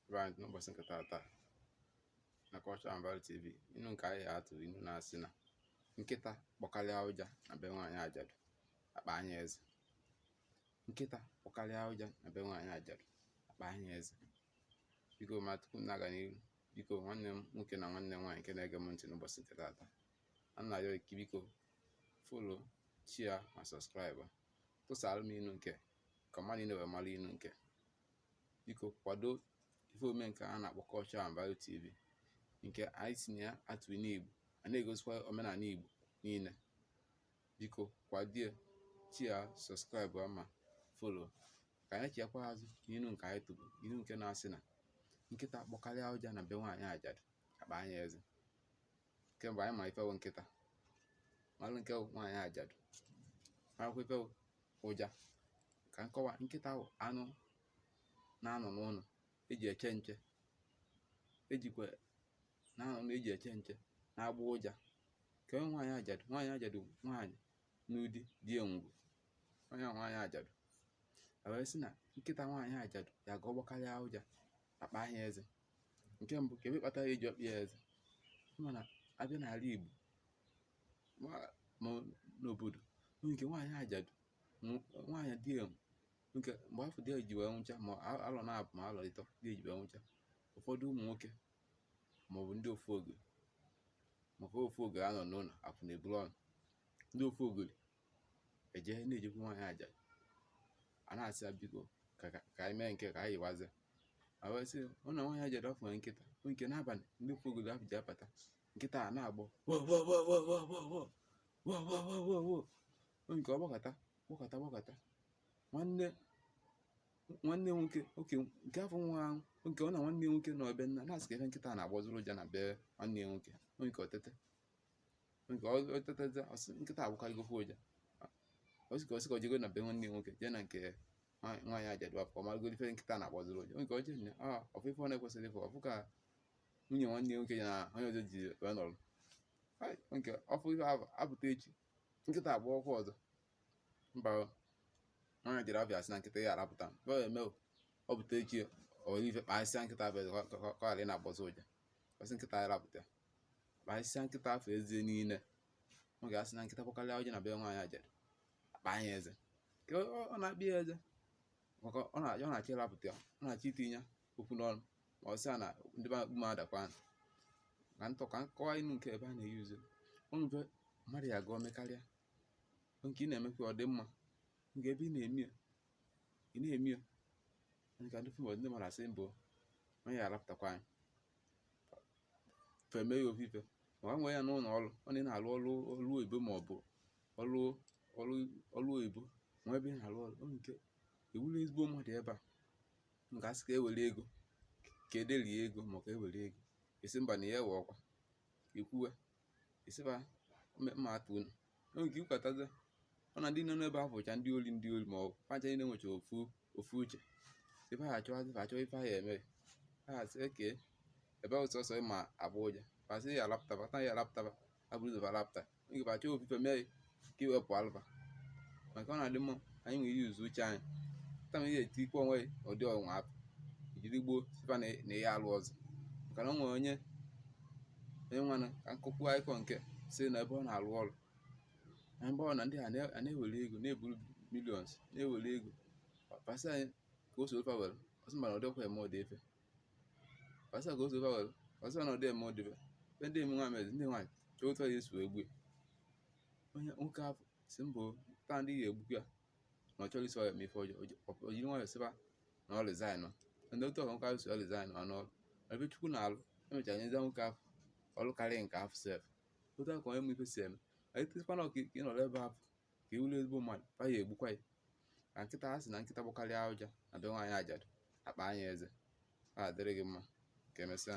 ebe anyị n'ụbọchị nke tata na Culture and Value TV inu nke anyị atụ inu na-asị na nkịta kpọkarịa ụja na be nwaanyị ajadu akpaa ya eze nkịta gbọkarịa ụja na be nwaanyị ajadu akpaa ya eze biko ma tupu m na-aga n'ihu biko nwanne m nwoke na nwanne m nwaanyị nke na-ege m ntị n'ụbọchị nke tata a na-arịọ gị biko follow share ma subscribe tụsara m inu nke ka mmadụ niile wee mara inu nke biko kwado ife ome nke a na-akpọ Culture and Value TV nke anyị si na ya atụ inu Igbo a na-egosikwa omenala Igbo niile biko kwadie share subscribe ma follow ka anyị chiakwa azụ n'inu nke anyị tụrụ inu nke na-asị na nkịta gbọkarịa ụja na be nwaanyị ajadu akpaa ya eze kemgbe anyị ma ife wụ nkịta malụ nke nwaanyị ajadu marakwa ife wụ ụja ka m kọwaa nkịta bụ anụ na-anọ n'ụlọ eji eche nche ejikwa na-anọ na eji eche nche na-agbọ ụja kee onye nwaanyị ajadu nwaanyị ajadu nwaanyị nọ di di ya nwụrụ onye nwaanyị ajadu e wee sị na nkịta nwaanyị ajadu ya ga ọ gbọkarịa ụja akpaa ya eze nke mbụ kee ife kpatara eji akpa ya eze mana a bịa n'ala Igbo ma n'obodo nke nwaanyị ajadu nwaanyị di ya nwụrụ mgbe afụ di ya ji wee nwụcha ma alọ nabọ ma alọ ịtọ di ya ji wee nwụcha ụfọdụ ụmụ nwoke maọbụ ndị ofogori maka ofogori anọ n'ụlọ afụ na-eburu ọnụ ndị ofogori eje na-ejekwu nwaanyị ajadu a na-asị ya biko ka anyị mee nke ka anyị yiwazie ma wee sị na nwaanyị ajadu afụ nwere nkịta bụ nke n'abalị ndị ofogori ahụ ji abata nkịta a na-agbọ nke ọ gbọkata gbọkata gbọkata nwanne nwanne nwoke oke nke afụ nwa ahụ oke ọ na nwanne nwoke na ọbịa nna na-asị kee ife nkịta na-agbọzịrị ụja na be nwanne nwoke nke otete nke ọ ọ tetazie ọ sị nkịta agbọkarịgokwa ụja ọ sị ka ọ sị ka ọ jego na be nwanne ya nwoke jee na nke nwa- nwaanyị ajadu afụ ka ọ maragodi ife nkịta na-agbọzịrị ụja nke ọ jee na a ọ fụ ife ọ na-ekwesịghị ịfụ ọ fụ ka nwunye nwanne ya nwoke ya na onye ọzọ ji wee nọrọ Hai, nke ọ fụ ife ahụ apụta echi nkịta agbọkwa ọzọ mba o. nwaanyị ajadu afụ asị na nkịta ya arapụta m ọ eme o ọ pụta echi ọ were ife kpasịa nkịta afụ ka ọ ghara ị na-agbọzị ụja ọ sị nkịta ya rapụta akpasịsịa nkịta afụ eze niile ọ ga-asị na nkịta gbọkarịa ụja na be nwaanyị ajadu akpaa nya eze ka ọ na-akpa ya eze maka ọ na-achọ ịrapụta ya ọ na-achọ itinye okwu n'ọnụ ma ọ sị na ndị be akpụ m adakwa nụ ka ntọ ka m kọwaa inu nke ebe a na-eyuzu ụnụ be mmadụ ya gụọ mekarịa nke ị na-emekwa ọ dị mma nke ebe ị na-eme ya ị na-eme ya nke ndị fim ndị mmadụ asị mbụ onye ya arapụtakwa anyị fa emee ya ofu ife maka nwee ya n'ụlọ ọrụ onye na-arụ ọrụ ọrụ oyibo ma ọ bụ ọrụ ọrụ ọrụ oyibo nwa ebe na-arụ ọrụ ọ nke ị wụrụ ezigbo mmadụ ebe a nke asị ka ewere ego ka ederie ego ma ka ewere ego ị sị mba na ya ewe ọkwa ikwuwe ịsịba mme- mma atụ unu enwere ike ikwetago ọ na ndị nọ n'ebe ahụ bụcha ndị ori ndị ori ma ọ fa ncha niile nwecha ofu ofu uche ife ha achọwazi ife achọwa ife ha ya eme ha asị oke ebe ahụ sọsọ ịma agbọ ụja fa sị ya alapụta fa ya alapụta fa eburu ụzọ alapụta oge fa achọwa ofu ife mee ka iwepụ alụba maka ọ na-adị mma anyị na-eyuzu uche anyị kama ihe eti ikpe onwe ụdị ọnwa apụ jiri gboo sị fa na ihe alụ ọzọ maka na o nwere onye onye nwana ka nkụkwu akụkọ nke sị na ebe ọ na-alụ ọrụ na ebe ọ na ndị a na- a na-ewere ego na-eburu millions na-ewere ego fa sị ya ka o soro fa were ọ sị mba na ọ dịkwa eme ụdị ife a sị ka o so fa were ọ sị na ọ dị eme ụdị ife be ndị eme nwaanyị ndị nwaanyị chọọ otu ya esi egbu onye nwoke afụ si mbụ taa ndị ya egbu ya na ọ chọrọ isi ọya mee ife ọjọọ o jiri nwayọ sị fa na ọ resign ndị otu a ka nwoke afụ si ọ resign ọ n'ọrụ ebe chukwu na alụ emechara nyezi nwoke afụ ọrụ karịa nke afụ sef otu a ka onye ma ife si eme anyị tịkwana ọka ị nọrọ ebe afụ ka ị wụrụ ezigbo mmadụ fa ya egbukwa ya ka nkịta a sị na nkịta gbọkarịa ụja na be nwaanyị ajadu akpaa nya eze ya dịrị gị mma ka emesịa